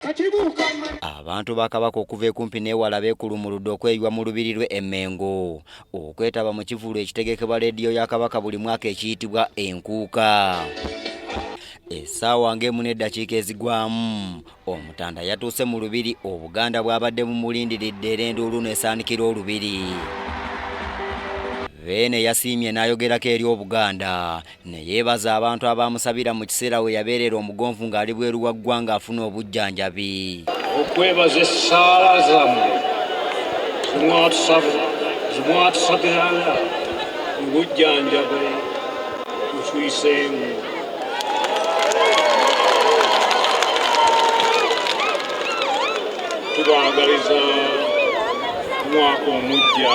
Abantu ba Kabaka okuva ekumpi n'ewala beekulumuludde okweyiwa mu lubiri lwe Emmengo okwetaba mu kivulu ekitegekebwa leediyo ya Kabaka buli mwaka ekiyitibwa Enkuuka. Essaawa ng'emu n'eddakiika ezigwamu Omutanda yatuuse mu lubiri Obuganda bwabadde bumulindiridde era enduulu n'esaanikira olubiri. Beene yasiimye n'ayogerako eri Obuganda ne yeebaza abantu abaamusabira mu kiseera we yabeerera omugonvu ng'ali bweru wa ggwanga afuna obujjanjabi okwebaza essaala zammwe zimwatusabiranga mu bujjanjabi mutuyiseemu tubaagaliza omwaka omuggya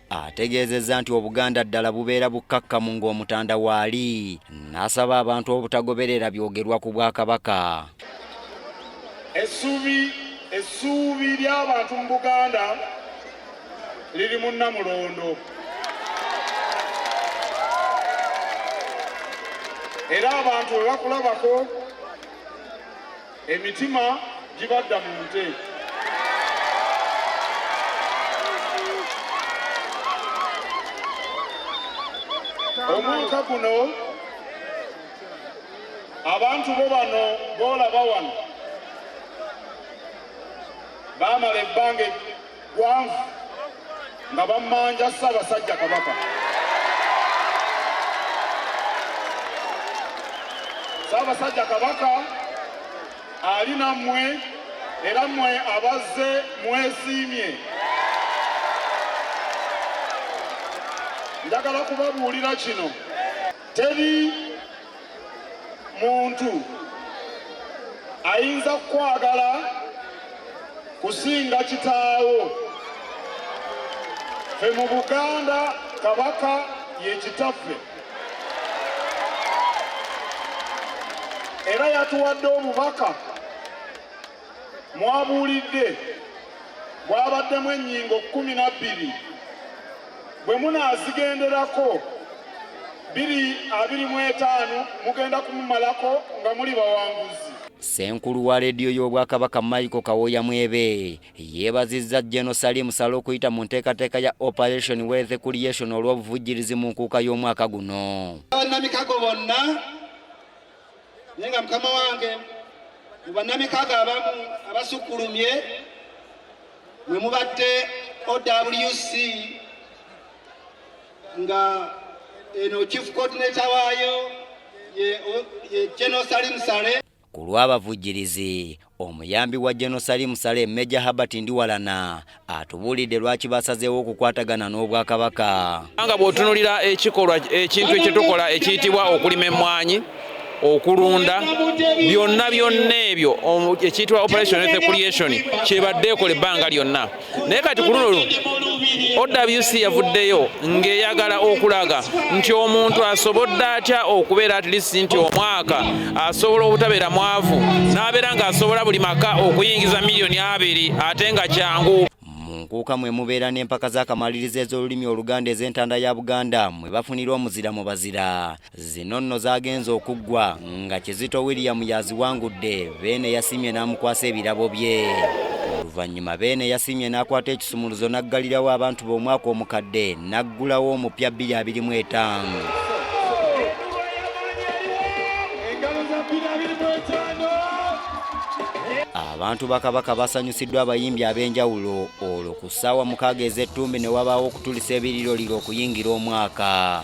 ategeezezza nti obuganda ddala bubeera bukkakkamu ng'omutanda waali n'asaba abantu obutagoberera byogerwa ku bwakabaka essuubi essuubi ly'abantu mu buganda liri mu nnamulondo era abantu bwe bakulabako Emitima gibadda mu nte. Omwaka guno abantu bo bano boolaba wano baamala ebbanga gwanvu nga bammanja Ssaabasajja Kabaka. Ssaabasajja Kabaka ali nammwe era mmwe abazze mwesiimye. Njagala kubabuulira kino teri muntu ayinza kukwagala kusinga kitaawo fe mu buganda kabaka yekitaffe era yatuwadde obubaka mwabuulidde bwabaddemu ennyingo kkumi na bbiri bwe munaazigenderako biri abiri mu etaano mugenda kumumalako nga muli bawanguzi Ssenkulu wa leediyo y'Obwakabaka Michael Kawoya Mwebe yeebazizza General Salim Saleh okuyita mu nteekateeka ya Operation Wealth Creation olw'obuvujjirizi mu nkuuka y'omwaka guno. Bannamikago bonna naye nga mukama wange mu bannamikago abamu abasukkulumye mwe mubadde OWC nga eno chief coordinator waayo ye General Salim Saleh ku lw'abavujjirizi Omuyambi wa General Salim Saleh Major Herbert Ndiwalana atubuulidde lwaki basazeewo okukwatagana n'Obwakabaka. Nga bw'otunulira ekikolwa ekintu ekyetukola ekiyitibwa okulima emmwanyi okulunda byonna byonna ebyo ekiyitibwa operation creation kyebadde ekola ebbanga lyonna naye kati ku luno luno owc yavuddeyo ng'eyagala okulaga nti omuntu asobodde atya okubeera at least nti omwaka asobola obutabeera mwavu n'abeera ng'asobola buli maka okuyingiza miliyoni abiri ate nga kyangu nkuuka mwe mubeera n'empaka z'akamalirizo ez'olulimi oluganda ez'entanda ya buganda mwe bafunira omuzira mu bazira Zino nno zaagenze okuggwa nga Kizito William y'aziwangudde, Beene yasiimye n'amukwasa ebirabo bye. Oluvannyuma Beene yasiimye n'akwata ekisumuluzo n'aggalirawo abantu be omwaka omukadde n'aggulawo omupya bbiri abiri mu etaano. abantu ba kabaka basanyusiddwa abayimbi ab'enjawulo olwo ku ssaawa mukaaga ez'ettumbi ne wabaawo okutulisa ebiriroliro okuyingira omwaka